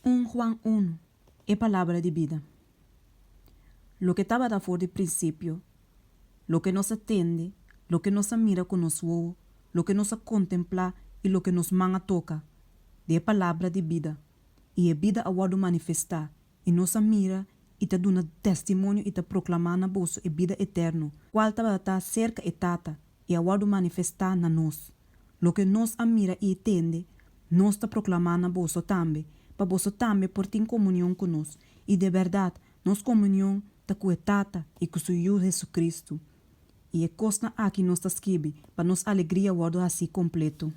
Un Juan unu, e Palabra di bida. Loke tabata for di prinsipio, loke nos a tende, loke nos a mira ku nos wowo, loke nos a kontemplá i loke nos man a toka, di e Palabra di bida, i e bida a wòrdu manifestá, I nos a mira, i ta duna testimonio i ta proclamá na boso e bida eterno, cual tabata ta cerca e Tata, i a wordu manifestá na nos. Loke nos a mira i tende, nos ta proclamá na boso tambe, pa boso tambe por tin comunion cu nos. I de berdad, nos comunion ta cu e Tata i cu su Yu Jesucristo. I e cosnan aki nos ta skibi, pa nos alegria wordu hací completo.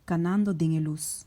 Canando den e luz.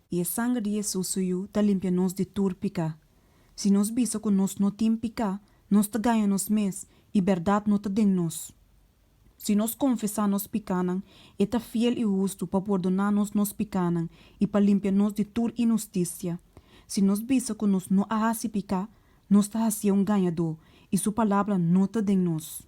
I e sanger di Hesus su Yu ta limpia nos di tur piká. Si nos bisa ku nos no tin piká, nos ta gaña nos mes i bèrdat no ta den nos. Si nos konfesá nos pikánan, e ta fiel i hustu pa pordoná nos nos pikánan i pa limpia nos di tur inhustisia. Si nos bisa ku nos no a hasi piká, nos ta hasié un gañadó i su palabra no ta den nos.